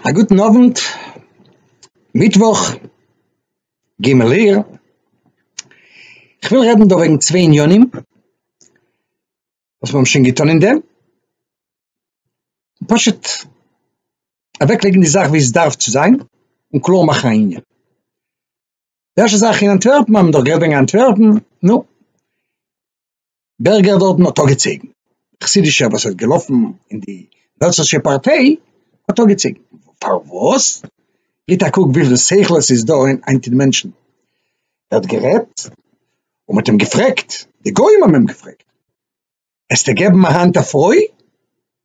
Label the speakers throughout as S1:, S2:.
S1: א גוטן אוונט, מיטוואך ג' אייר, כ'וויל רעדן דא וועגן צוויי עניינים וואס מיר האבן שוין געטון אין דעם, פשוט אוועקלייגן די זאך ווי עס דארף צו זיין און קלאר מאכן א ענין. די ערשטע זאך אין אנטווערפן האבן מיר דאך גערעדט וועגן אנטווערפן, נו, בערגער דארטן האט אגעצויגן חסידישע וואס האט געלאפן אין די נאצישע פארטיי האט אגעצויגן פארוואס? גיט א קוק וויפיל שכל עס איז דא אין היינטיגע מענטשן ער האט גערעדט און מען האט אים געפרעגט די גוים האבן אים געפרעגט העסטו געבן א האנט א פרוי?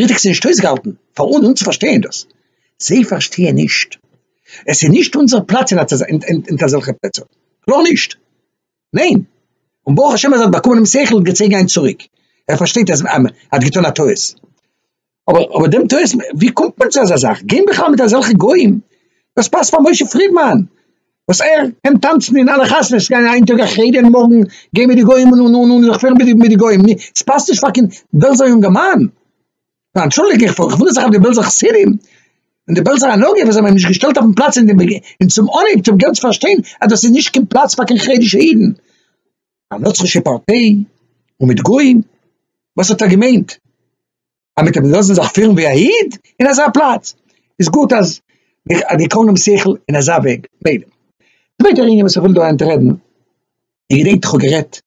S1: ריכטיג ס'איז נישט אויסגעהאלטן פאר אונז אונז צו פארשטייען דאס, זיי פארשטייען נישט, עס איז נישט אונזער פלאץ אין אזעלכע פלעצער, קלאר נישט, ניין, און ברוך השם אז ער האט באקומען דעם שכל און געצויגן איין צוריק, ער פארשטייט אז ער האט געטון א טעות, אבער אבער דעם טעות, ווי קומט מען צו אזא זאך, גיין בכלל מיט אזעלכע גוים, דאס פאסט פאר משה פרידמאן, וואס ער קען טאנצן אין אלע חתונות, ס'גייען היינט טאג א חדר און מארגן גיי מיט די גוים און און און זיך פירן מיט די גוים, ס'פאסט נישט פאר קיין בעלזא יונגערמאן, ניין אנטשולדיג איך איך וואונדער זיך אויף די בעלזא חסידים און די בעלזא הנהגה וואס זיי האבן אים נישט געשטעלט אויפן פלאץ און צום אנהייב צום געלט פארשטיין אז דאס איז נישט קיין פלאץ פאר קיין חרדישע אידן, א נוצרישע פארטיי און מיט גוים, וואס האט ער געמיינט? אז מיט דעם לאזן זיך פירן ווי א איד אין אזא פלאץ איז גוט אז די קונם שכל אין אזא וועג מילא. צווייטע ענין וואס איך וויל דא היינט רעדן, איך געדענק איך האב גערעדט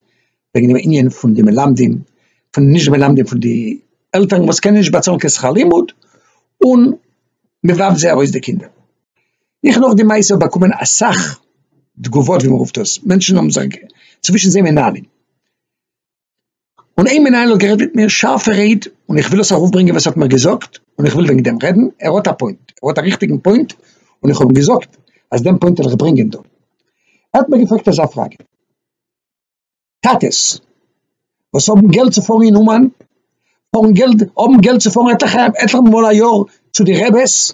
S1: וועגן דעם ענין פון די מלמדים פון נישט מלמדים פון די עלטערן וואס קענען נישט באצאלן קיין שכר לימוד און מען ווארפט זיי ארויס די קינדער, איך נאך די מעשה האב באקומען אסאך תגובות ווי מען רופט עס מענטשן האבן זיך צווישן זיי מנהלים. און איין מנהל האט גערעדט מיט מיר שארפע רעד, און איך וויל עס ארויפברענגען וואס ער האט מיר געזאגט, און איך וויל וועגן דעם רעדן, ער האט א פוינט, ער האט א ריכטיגן פוינט, און איך האב אים געזאגט אז דעם פוינט וועל איך ברענגען דא. ער האט מיר געפרעגט אזא פראגע, טאטעס וואס האבן געלט צו פארן אין אומאן, פארן געלט, האבן געלט צו פארן עטליכע, עטליכע מאל א יאר צו די רעבעס,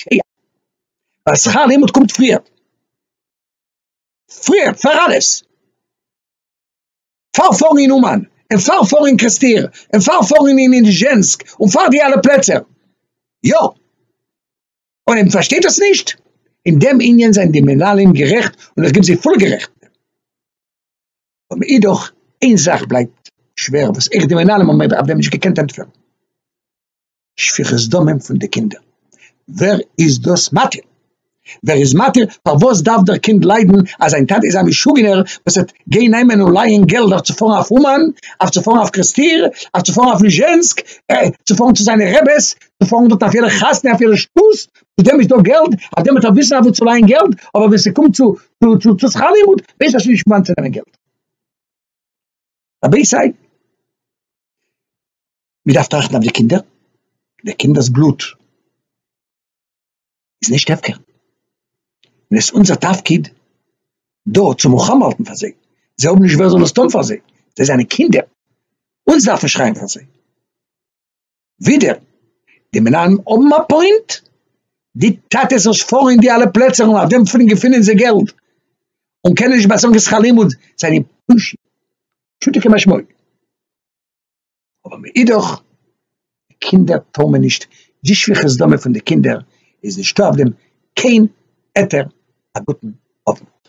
S1: שקיעה, ווייל שכר הלימוד קומט פריער, פריער פאר אלעס, פאר פארן אין אומאן, און פאר פארן אין קעסטיר, און פאר פארן אין ניזשענסק, און פאר די אלע פלעצער, יא, אויב מען פארשטייט דאס נישט, אין דעם ענין זענען די מנהלים גערעכט, און איך גיב זיי פולע גערעכט, אבער אידאך איין זאך בלייבט שווער וואס איך די מנהלים האבן מיר אויף דעם נישט געקענט ענטפערן. שפיכות דמים פון די קינדער, ווער איז דאס מתיר? ווער איז מתיר? פארוואס דארף דער קינד ליידן אז זיין טאטע איז א משוגענער וואס וועט גיין נעמען און לייען געלט אויף צו פארן אויף אומאן, אויף צו פארן אויף קרעסטיר, אויף צו פארן אויף ליזשענסק, צו פארן צו זיינע רעבעס, צו פארן דארט אויף יעדע חתונה אויף יעדע שטות, צו דעם איז דא געלט, אויף דעם וועט ער וויסן אוואו צו לייען געלט, אבער ווען ס'קומט צו צו צו שכר לימוד ווייסט ער שוין נישט וואנעט צו נעמען געלט. רבותי! מען דארף טראכטן אויף די קינדער, די קינדער'ס בלוט איז נישט הפקר, און עס איז אונזער תפקיד דא צו מלחמה האלטן פאר זיי, זיי האבן נישט ווער זאל עס טון פאר זיי, זיי זענען קינדער, אונז דארף מען שרייען פאר זיי. ווידער, די מנהלים האבן א פוינט, די טאטעס וואס פארן אין די אלע פלעצער און אויף דעם פונקט געפינען זיי געלט, און קענען נישט באצאלן די שכר לימוד, זענען פושעים פשוטו כמשמעו. אבער מאידך די קינדער טאר מען נישט, די שפיכות דמים פון די קינדער איז נישטא אויף דעם קיין היתר, א גוטן אוונט.